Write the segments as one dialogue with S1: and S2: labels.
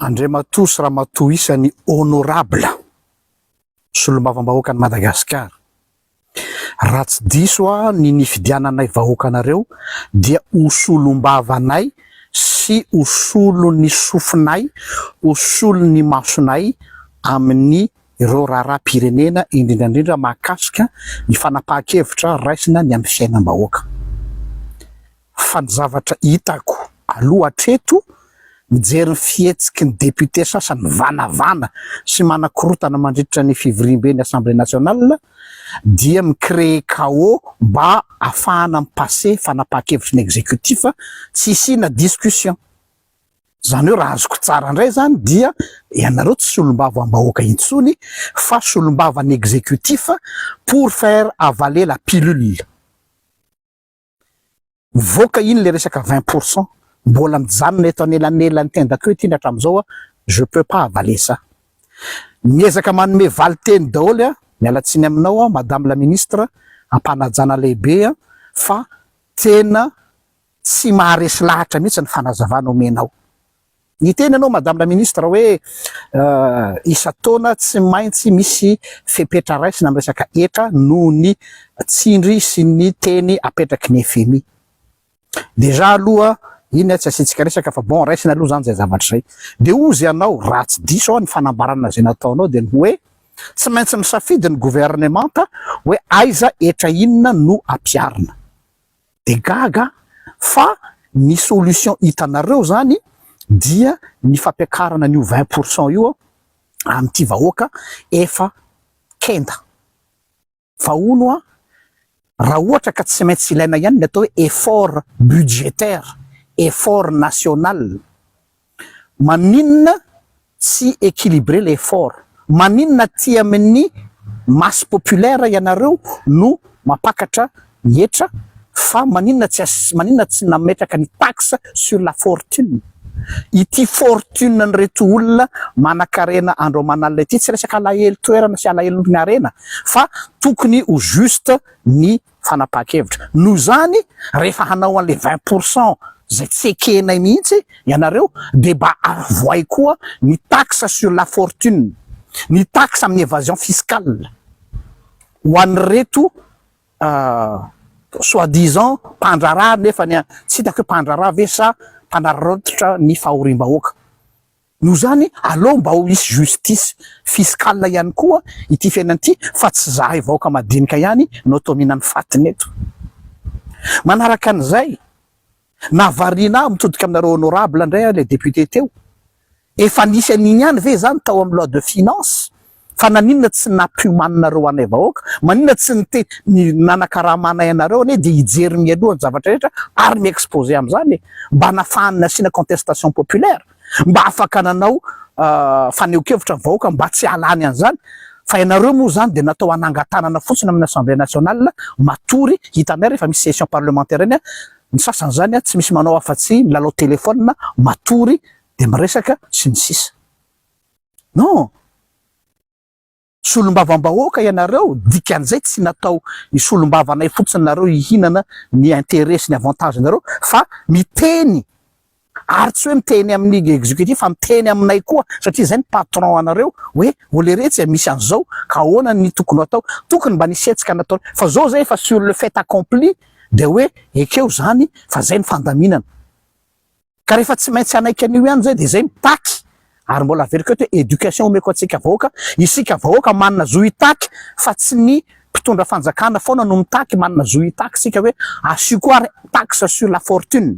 S1: Andriamatoa sy Ramatoa isan'ny Honorable Solombavambahoakan'i Madagasikara, raha tsy diso aho ny nifidiananay vahoaka anareo dia ho solombavanay sy ho solon'ny sofinay, ho solon'ny masonay amin'ny ireo raharaham-pirenena indrindra indrindra mahakasika ny fanapahan-kevitra raisina ny amin'ny fiainam-bahoaka. Fa ny zavatra hitako aloha hatreto, mijery ny fihetsiky ny députés sasany mivanavana sy manakorotana mandritra ny fivoriamben'ny Assemblée nationale dia mi-créer chaos mba hahafahana mi-passer fanapahan-kevitry ny exécutif tsy hisiana discussion. Izany hoe raha azoko tsara indray izany dia ianareo tsy solombavambahoaka intsony fa solombavan'ny exécutif pour faire avaler la pilule. Mivoaka iny le resaka vingt pour cent, mbola mijanona eto anelanelan'ny tendako ety iny hatramin'izao aho, je peux pas avaler ça. Miezaka manome valin-teny daholo an, miala tsiny aminao aho madame la ministre, am-panajana lehibe an, fa tena tsy maharesy lahatra mihitsy ny fanazavana omenao. Niteny ianao Madame la Ministre hoe isan-taona tsy maintsy misy fepetra raisina amin'ny resaka hetra noho ny tsindry sy ny teny apetraky ny fmi. Déjà aloha iny tsy asiantsika resaka fa bon raisina aloha izany izay zavatra izay. Dia hozy ianao raha tsy diso aho ny fanambarana izay nataonao dia ny hoe tsy maintsy misafidy ny Governemanta hoe aiza hetra inona no ampiharina. dia gaga aho fa ny solution hitanareo izany dia ny fampiakarana an'io vingt pour cent io amin'ity vahoaka efa kenda. Fa hono hoa raha ohatra ka tsy maintsy ilaina ihany ny atao hoe effort budgétaire, effort national, Maninona tsy equilibré le effort? Maninona aty amin'ny masse populaire ianareo no mampakatra hetra fa maninona tsy asy maninona tsy nametraka ny taxe sur la fortune? Ity fortune an'ireto olona manakarena andro aman'alina ity tsy resaka alahelo toerana sy alahelon'ny harena fa tokony ho juste ny fanapahan-kevitra. Noho izany, rehefa hanao an'ilay vingt pour cent izay tsy ekenay mihitsy ianareo, dia mba avohay koa ny taxe sur la fortune, ny taxe amin'ny evasion fiscale ho an'ireto soit disant mpandraharaha nefany tsy hitako hoe mpandraharaha ve sa mpanararaotra ny fahoriam-bahoaka. Noho izany, aleo mba ho hisy justice fiscale ihany koa ity fiainana ity fa tsy izahay vahoaka madinika ihany no toa mihinan'ny fatiny eto. Manaraka an'izay, nahavariana ahy mitodika aminareo honorable indray aho ilay député teo, efa nisy an'iny ihany ve izany tao amin'ny loi de finances Fa naninona tsy nampiomaninareo anay vahoaka? Maninona tsy nite ny nanakarama anay anareo anie dia hijery mialoha ny zavatra rehetra ary mi-exposer amin'izany e! Mba nafahany nasiana contestation populaire? Mba afaka nanao fanehonkevitra ny vahoaka mba tsy hahalany an'izany? Fa ianareo moa izany dia natao hanangan-tanana fotsiny amin'ny assemblée nationale matory hitanay rehefa misy session parlementaire iny ny sasany izany tsy misy manao afa-tsy milalao téléphone matory dia miresaka sy ny sisa. Non! Solombavambahoaka ianareo, dikan'izay tsy natao hisolombavana fotsiny nareo hihinana ny intérêt sy ny avantage nareo fa miteny ary tsy hoe miteny amin'ny executif fa miteny aminay koa satria zay ny patron anareo hoe oleretsy e misy an'izao ka ahoana ny tokony hatao, tokony mba nisy hetsika natao fa zao zay efa sur le fait accompli dia hoe ekeo zany fa zay ny fandaminana. Ka rehefa tsy maintsy hanaiky an'io ihany izay dia zay mitaky ary mbola averiko eto hoe éducation omeko antsika vahoaka, isika vahoaka manana zo hitaky fa tsy ny mpitondra fanjakana foana no mitaky, manana zo hitaky isika hoe asio koa ary taxe sur la fortune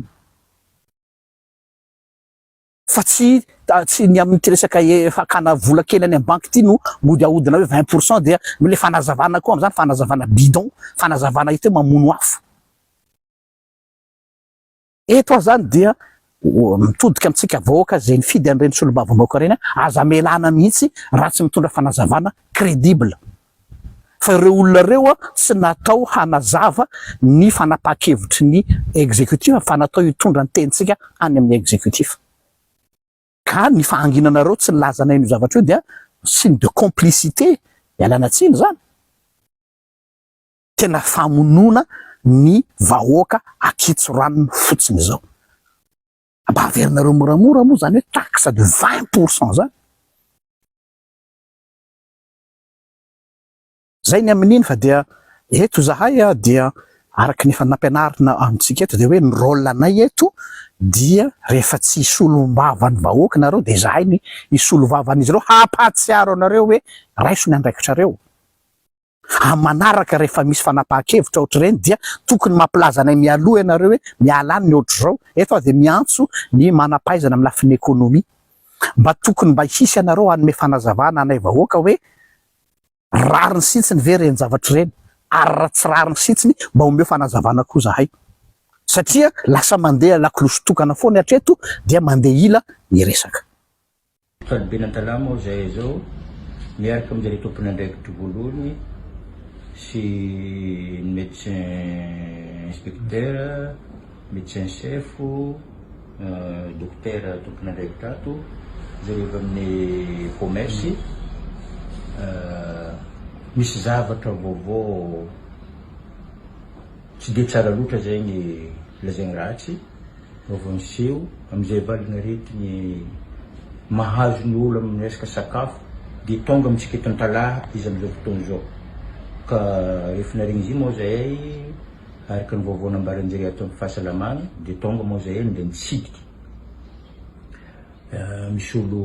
S1: fa tsy tsy ny amin'ity resaka fakana vola kely any amin'ny banky ity no mody ahodina hoe vingt pour cent dia le fanazavana koa amin'izany fanazavana bidon, fanazavana hita hoe mamono afo. Eto aho zany dia mitodika amintsika vahoaka izay nifidy an'ireny solombavambahoaka ireny aho, aza amelana mihitsy raha tsy mitondra fanazavana crédible fa ireo olona ireo tsy natao hanazava ny fanapahan-kevitry ny executif fa natao hitondra ny tenintsika any amin'ny executif ka ny fahanginanareo tsy nilazanay an'io zavatra io dia signe de complicité, ialana tsiny izany. tena famonoana ny vahoaka akitso ranony fotsiny izao. Mba averinareo moramora moa izany hoe taxe de 20 pour cent izany. Zay ny amin'iny fa dia eto zahay dia araka ny efa nampianarina amintsika eto dia hoe ny rôle anay eto dia rehefa tsy hisolombavany vahoaka nareo dia zahay ny hisolovavan'izy ireo hampahatsiaro anareo hoe raiso ny andraikitrareo. Amin'ny manaraka rehefa misy fanapahan-kevitra ohatr'ireny dia tokony mampilaza anay mialoha ianareo hoe miala any ny ohatr'izao. Eto aho dia miantso ny manam-pahaizana amin'ny lafiny ekonomia. Mba tokony mba hisy ianareo hanome fanazavana anay vahoaka hoe rariny sintsiny ve ireny zavatra ireny ary raha tsy rariny sintsiny mba omeo fanazavana koa zahay satria lasa mandeha lakolosy tokana foana hatreto dia mandeha ila ny resaka. Sady
S2: ben'ny Antalama aho izay izao, miaraka amin-dry zareo tompon'andraikitro voalohany sy ny médecin inspecteur, médecin chef, dokotera tompon'andraikitra ato, ry zareo avy amin'ny commerce, misy zavatra vaovao. Tsy dia tsara loatra izay ny lazainy ratsy fa vao niseho amin'izay valin'aretigny mahazo ny olo amin'ny resaka sakafo dia tonga amintsika eto Antalaha izy amin'izao fotoana izao ka rehefa naharegny izy io moa zahay araka ny vaovao nambaran-jare ato amin'ny fahasalamagna dia tonga moa zahay dia nitsidika misy olo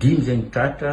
S2: dimy zay nitratra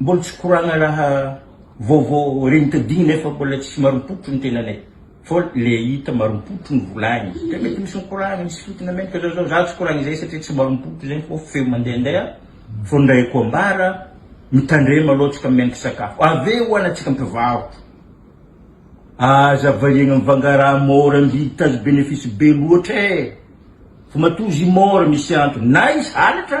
S2: Mbola tsy koragna raha vaovao regniko digny nefa mbola tsisy marim-potro ny tenanay fô le hita marim-potro ny volagny satria mety misy mikoragna misy fitogna menaka zao zao za tsy koragna izay satria tsy marim-potro zegny fô feo mandehandeha fô ny raha haiko ambara mitandrema aloha tsika menaka sakafo avy eo ho anantsika mpivarotra aza variagna mivanga raha môra mividy tazo benefisy be loatra e! fa matoa izy io môra misy antony na izy halatra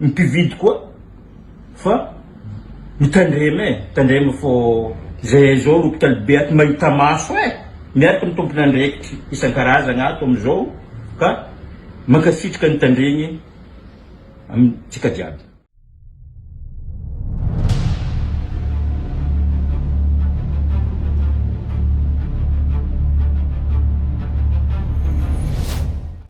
S2: Ny mpividy koa fa mitandrema e, mitandrema fô zay aizao ny hopitaly be ato mahita maso e, miaraka ny tompon'andraikitry isan-karazagna ato amizao ka mankasitraka ny tandregny amintsika jiaby.